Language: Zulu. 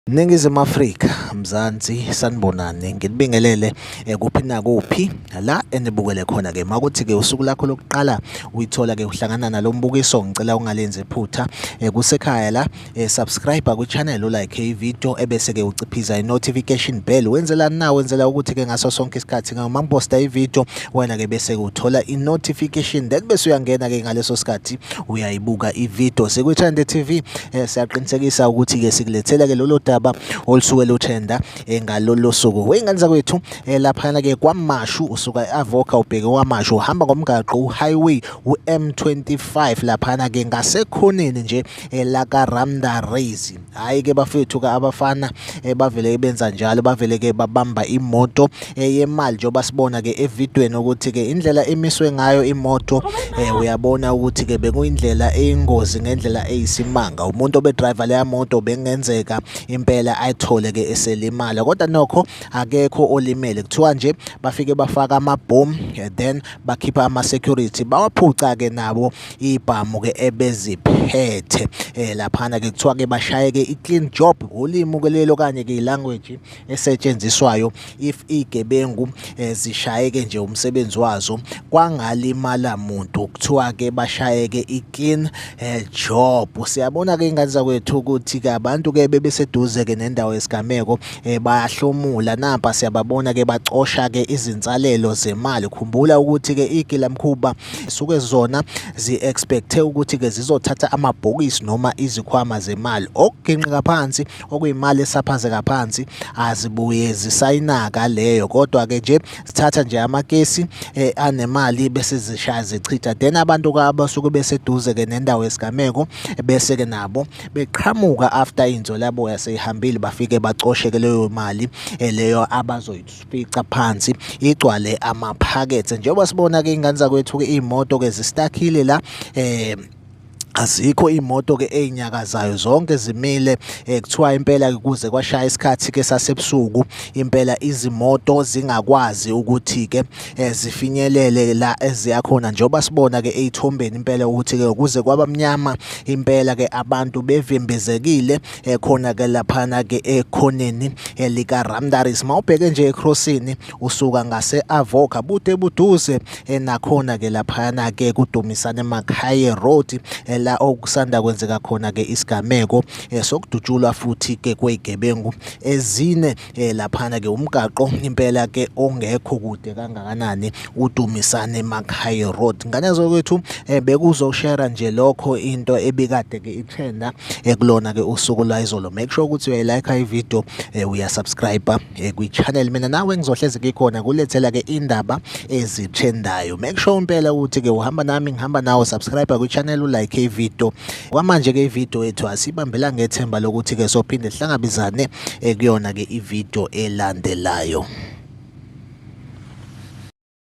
Ningizimu Afrika, Mzansi, sanibonani. Nginibingelele eh, kuphi nakuphi la enibukele khona ke. Makuthi ke usuku lakho lokuqala uyithola ke uhlangana nalombukiso, ngicela ungalenzi iphutha. Eh, kusekhaya la eh, subscribe ku channel u like i video ebese ke uciphiza i notification bell wenzela na wenzela ukuthi ke ngaso sonke isikhathi ke uma ngiposta i video wena ke bese uthola i notification then bese uyangena ke ngaleso sikhathi uyayibuka i video siku Trend TV eh, siyaqinisekisa ukuthi ke sikulethela ke lolo daba olusuke luthenda eh, ngalolo suku weyingane zakwethu eh, lapha ke kwamashu usuka eAvoca ubheke kwamashu uhamba ngomgaqo u highway u M25 lapha ke ngasekhoneni nje eh, la ka Ramda Race hayi ke bafethu ka abafana eh, bavele benza njalo bavele ke babamba imoto eh, yemali njengoba sibona ke evidweni ukuthi ke indlela emiswe ngayo imoto uyabona ukuthi ke bekuyindlela eyingozi ngendlela eyisimanga umuntu obe driver leya moto bengenzeka impela ayithole ke eselimala kodwa nokho akekho olimele kuthiwa nje bafike bafaka amabhomu then bakhipha ama security bawaphuca ke nabo ibhamu ke ebeziphethe eh, laphana ke kuthiwa ke bashaye ke i-clean job ngolimi ke lelo kanye ke i-language esetshenziswayo if igebengu eh, zishaye ke nje umsebenzi wazo kwangalimala muntu kuthiwa ke bashaye ke i-clean eh, job siyabona ke ingane zakwethu ukuthi ke abantu ke bebeseduze ke nendawo yesigameko eh, bayahlomula nampa siyababona ke bacosha ke izinsalelo zemali khumbula ukuthi ke igilamkhuba suke zona zi-expecthe ukuthi ke zizothatha amabhokisi noma izikhwama zemali okuginqika phansi okuyimali esaphazeka phansi azibuye zisayinaka leyo kodwa ke nje sithatha nje amakesi eh, anemali bese zishaya zichitha then abantu abasuke beseduze ke nendawo yesigameko bese ke nabo beqhamuka after inzolaboya seyihambile bafike bacosheke leyo mali eh, leyo abazoyifica phansi igcwale amaphakethe njengoba sibona ke ingane zakwethu ke imoto ke zistakhile la eh azikho imoto ke ezinyakazayo zonke zimile eh, kuthiwa impela kuze kwashaya isikhathi ke sasebusuku impela izimoto zingakwazi ukuthi ke eh, zifinyelele la eziya khona njengoba sibona ke ezithombeni impela ukuthi ke ukuze kwabamnyama impela ke abantu bevimbezekile eh, khona ke laphana ke ekhoneni eh, lika Ramdaris mawubheke nje ecrossini usuka ngase Avoca bude buduze nakhona ke laphana ke kudumisane Makhaye Road la okusanda kwenzeka khona ke isigameko sokudutshulwa futhi ke kwezigebengu ezine eh laphana ke umgaqo impela ke ongekho kude kangakanani uDumisane Makhayi Road ngane zokwethu eh, bekuzoshare nje lokho into ebikade ke itrenda ekulona eh, ke usuku lwayizolo make sure ukuthi uyayilike i video eh, uyasubscribe kwi channel mina nawe ngizohleze ngikhona kulethela ke indaba ezitrendayo make sure impela ukuthi ke uhamba nami ngihamba nawe subscribe kwi channel u like i video kwamanje ke i video yethu asibambela ngethemba lokuthi ke sophinde sihlangabizane ekuyona-ke ividiyo elandelayo